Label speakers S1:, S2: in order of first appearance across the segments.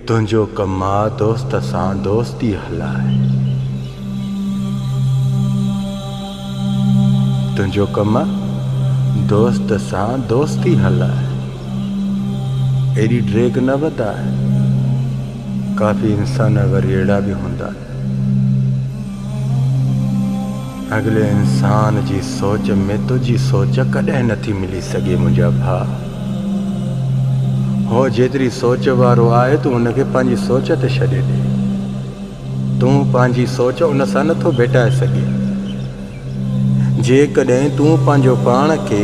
S1: تنهنجو ڪم آ دوست سان دوستي هلائي. تنهنجو ڪم آ دوست سان دوستي هلائي. ايڏي ڊيگهه نه وڌاء. ڪافي انسان وري اهڙا به هوندا. اڳلي انسان جي سوچ ۾ تنهنجي سوچ ڪڏهن نه ٿي ملي سگهي منهنجا ڀاء. هو جيتري سوچ وارو آهي تون هن کي پنهنجي سوچ تي ڇڏي ڏي. تون پنهنجي سوچ ان سان نه ٿو ڀيٽائي سگهي. جيڪڏهن تون پنهنجو پاڻ کي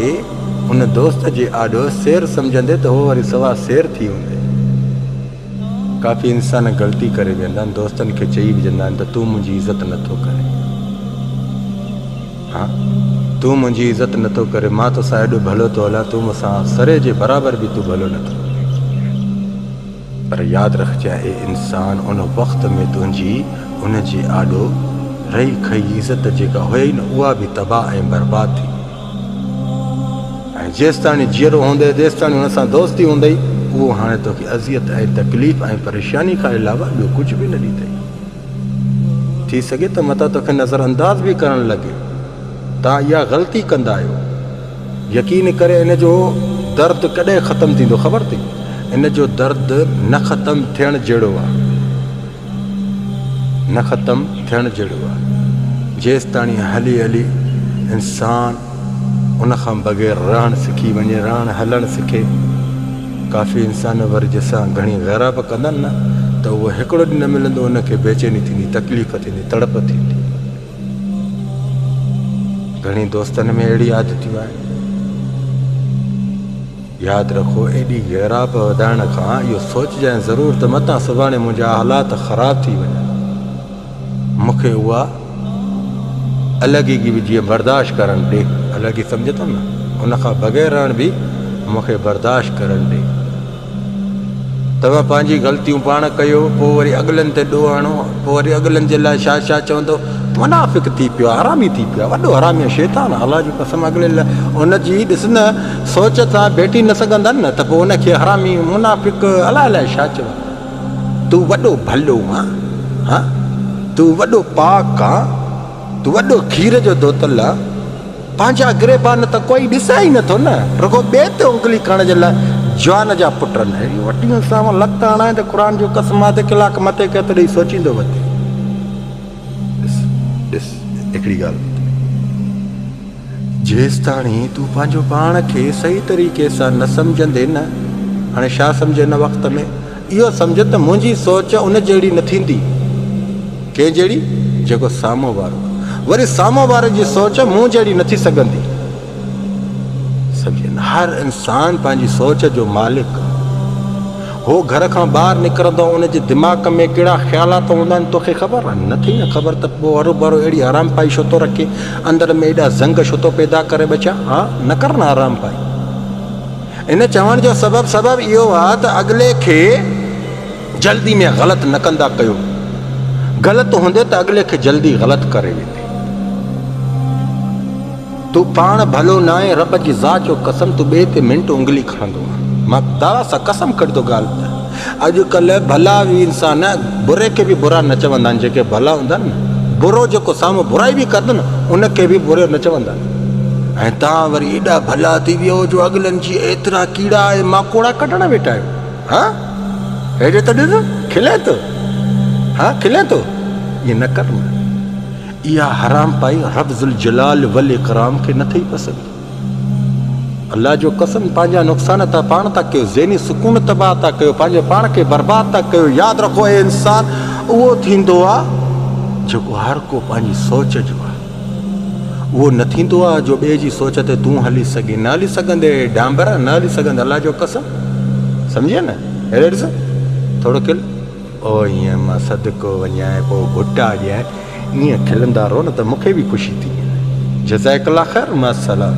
S1: ان دوست جي آڏو سير سمجهندي ته هو وري سوا سير ٿي هوندي. ڪافي انسان غلطي ڪري ويهندا آهن دوستن کي چئي وجهندا آهن ته تون منهنجي عزت نه ٿو ڪرين ها تون منهنجي عزت نه ٿو ڪرين مان توسان ايڏو ڀلو ٿو هلان تون مونسان سري جي برابر به تون ڀلو نه ٿو پر ياد رکجي اهي انسان ان وقت ۾ تنهنجي ان جي آڏو رهي کئي عزت جيڪا هئي نه اها به تباهه ۽ برباد ٿي ۽ جيستاڻي جيئرو هوندئي تيستاڻي ان سان دوستي هوندئي، اهو هاڻي توکي اذيت ۽ تڪليف ۽ پريشاني کان علاوه ٻيو ڪجهه به نه ڏيندئي. ٿي سگهي ته متان توکي نظر انداز به ڪرڻ لڳي. توهان اها غلطي ڪندا آهيو. يقين ڪري ان جو درد ڪڏهن ختم ٿيندو خبر اٿئي؟ ان جو درد نه ختم ٿيڻ جهڙو آهي. نه ختم ٿيڻ جهڙو آهي. جيستاڻي هلي هلي انسان ان کان بغير رهڻ سکي وڃي، رهڻ هلڻ سکي. ڪافي انسان وري جسان گهڻي غيره به ڪندن نه ته اهو هڪڙو ڏينهن نه ملندو ان کي بيچيني ٿيندي، تڪليف ٿيندي، تڙپ ٿيندي. گهڻي دوستن ۾ اهڙي عادتيون آهن. ياد رکو ايڏي غيراب وڌائڻ کان اهو سوچجانء ضرور ته متان سڀاڻي منهنجا حالات خراب ٿي وڃن. مون کي اها الڳيگي به جيئن برداشت ڪرڻ ڏي. الڳي سمجهي ٿو نه؟ ان کان بغير رهڻ به مون کي برداشت ڪرڻ ڏي. توهان پنهنجي غلطيون پاڻ ڪيو، پوء وري اڳلن تي ڏوهه هڻو، پوء وري اڳلن جي لاء ڇا ڇا چوندو. منافق ٿي پيو آهي، حرامي ٿي پيو آهي، وڏو حرامي ۽ شيطان آهي، الله جي قسم اڳلي لاء ان جي ڏس نه. سوچ سان ڀيٽي نه سگهندن نه ته پوء ان کي حرامي، منافق، الائي الائي ڇا چون. تون وڏو ڀلو آن ها، تون وڏو پاڪ آن، تون وڏو کير جو ڌوتل آن، پنهنجا گريبان نه ته ڪوئي ڏسي ئي نه ٿو نه، رڳو ٻئي تي انگلي کڻڻ جي لاء جوان جا پٽ نه. اهڙيون وٽيون ساون لت هڻائين ته قرآن جون قسمون اڌ ڪلاڪ مٿي ڪيت ڏئي سوچيندو وتي. ڏس ڏس هڪڙي ڳالهه ٻڌ. جيستاڻي تون پنهنجو پاڻ کي صحيح طريقي سان نه سمجهندين نه هاڻي ڇا سمجهه هن وقت ۾ اهو سمجهه ته منهنجي سوچ ان جهڙي نه ٿيندي ڪنهن جهڙي جيڪو سامهون وارو وري سامهون واري جي سوچ مون جهڙي نه ٿي سگهندي سمجهين هر انسان پنهنجي سوچ جو مالڪ هو گهر کان ٻاهر نڪرندو ان جي دماغ ۾ ڪهڙا خيالات هوندا آهن توکي خبر آهي نه ٿئي نه خبر ته پوء هر ڀرو اهڙي حرام پائي ڇو ٿو رکي اندر ۾ ايڏا زنگ ڇو ٿو پيدا ڪري ٻچا ها نه ڪر نه حرام پائي ان چوڻ جو سبب سبب اهو آ ته اڳلي کي جلدي ۾ غلط نه ڪندا ڪيو غلط هوندي ته اڳلي کي جلدي غلط ڪري ويندي تون پاڻ ڀلو ناهين رب جي ذات جو قسم تون ٻئي تي منٽ انگلي کڻندو آهين مان خدا سان قسم کڻي ٿو ڳالهه ته اڄڪلهه ڀلا اهي انسان بري کي به برا نه چوندا آهن جيڪي ڀلا هوندا آهن نه برو جيڪو سامهون برائي به ڪندو نه ان کي به برو نه چوندا آهن ۽ توهان وري ايڏا ڀلا ٿي ويو جو اڳلن جي ايترا ڪيڙا ۽ ماڪوڙا ڪڍڻ ويٺا آهيو ها هيڏي ته ڏس کلين ٿو ها کلين ٿو ائين نه ڪر اها حرامپائي رب ذوالجلال والاڪرام کي نه ٿي پسند. الله جو قسم پنهنجا نقصان ته پاڻ ٿا ڪيو، ذهني سڪون تباهه ٿا ڪيو، پنهنجي پاڻ کي برباد ٿا ڪيو، ياد رکو اي انسان اهو ٿيندو آهي جيڪو هر ڪو پنهنجي سوچ جو آهي، اهو نه ٿيندو آهي جو ٻئي جي سوچ تي تون هلي سگهين، نه هلي سگهندين اي ڊانبر نه هلي سگهندين الله جو قسم سمجهين نه اهڙي ڏس ٿورو کل. او ايئن مان صدقو وڃان ۽ پوء ڀٽا ڏيان ايئن کلندا رهو نه ته مونکي به خوشي ٿي وڃي جزاڪ الله خير مع السلام.